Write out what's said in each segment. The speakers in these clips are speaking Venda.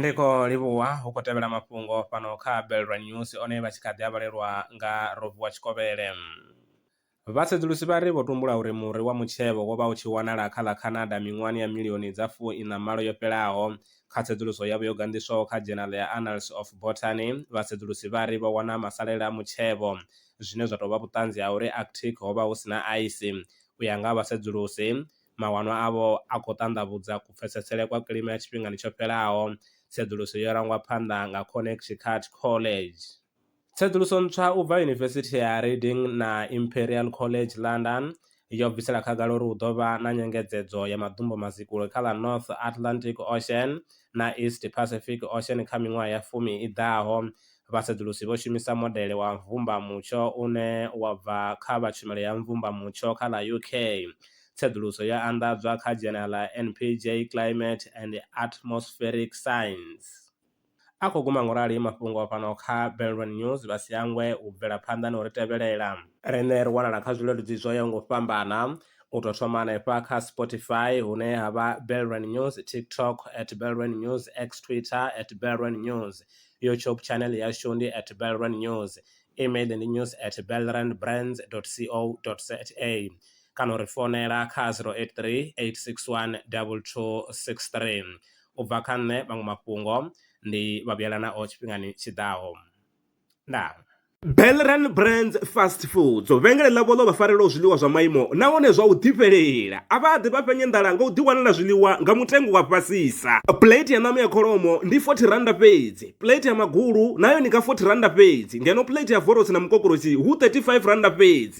ndiko livhuwa hu khou tevhela mafhungo fhano kha belrwa news one vha tshi kha ḓi a vhalelwa nga rovuwa tshikovhele vhasedzulusi vha ri vho tumbula uri muri wa mutshevho wo vha u tshi wanala kha ḽa canada miṅwahani ya milioni dza fu ina malo yo fhelaho kha tsedzuluso yavho yo ganḓiswaho kha journal ya annals of botany vhasedzulusi vha ri vho wana masalela a mutshevho zwine zwa tou vha vhuṱanzi ha uri arctic ho vha hu si na aisi u ya nga ha vhasedzulusi, mawanwa avho a khou ṱanḓavhudza kupfesesele kwa kilima ya tshifhingani tsho fhelaho. Tsedzuluso yo rangwa phanḓa nga Connecticut College. Tsedzuluso ntswa u bva Yunivesithi ya Reading na Imperial College London yo bvisela khagala uri hu ḓo vha na nyengedzedzo ya maḓumbu mazikule kha ḽa North Atlantic Ocean na East Pacific Ocean kha miṅwaha ya fumi i ḓaho, Vhasedzulusi vho shumisa modele wa mvumbamutsho une wa bva kha vha Tshumelo ya Mvumbamutsho kha ḽa UK. Tsedzuluso yo anḓadzwa kha dzhena ḽa NPJ Climate and Atmospheric Science. A khou guma ngo rali mafhungo a fhano kha Belron News, vha si hangwe u bvela phanḓa na u ri tevhelela. Riṋe ri wanala kha zwileludzi zwo yaho nga u fhambana, u tou thoma hanefha kha Spotify hune ha vha Belron News, TikTok at Belron News, X Twitter at Belron News, YouTube channel yashu ndi at Belrand News, email ndi news at belrandbrands.co.za kana uri founela kha 083 861 2263. U bva kha nṋe maṅwe mafhungo ndi vha vhuyela nao tshifhingani tshi ḓaho. Ndaa. Belran Brands Fast Foods vhengele ḽavho ḽo vha farelaho zwiḽiwa zwa maimo nahone zwa u ḓifhelela a vha ḓi vha fhenye nḓala nga u ḓiwanela zwiḽiwa nga mutengo wa fhasisa plate ya ṋama ya kholomo ndi 40 randa fhedzi plate ya magulu nayo ni nga 40 randa fhedzi ngeno plate ya vorosi na mukokorosi hu 35 randa fhedzi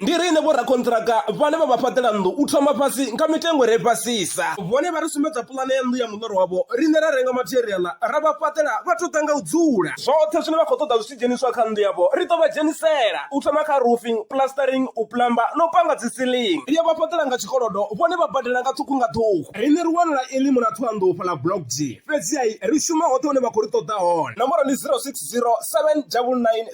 Ndi riṋe vhorakonṱiraka vhane vha vha fhaṱela nnḓu u thoma fhasi nga mitengo i re fhasisa. Vhone vha ri sumbedza puḽane ya nnḓu ya muḽoro wavho, riṋe ra renga matheriaḽa ra vha fhaṱela vha tou ḓa nga u dzula. Zwoṱhe zwine vha khou ṱoḓa zwi tshi dzheniswa kha nnḓu yavho ri ḓo vha dzhenisela, u thoma kha roofing, plastering, u plamba na u panga dzi ceiling. Ri a vha fhaṱela nga tshikolodo, vhone vha badela nga ṱhukhu nga ṱhukhu. Riṋe ri wanala e ḽimu ḽa Thohoyandou fhaḽa Block G, fhedziha ri shuma hoṱhe hune vha khou ri ṱoḓa hone. Nomboro ndi 0607 999 622.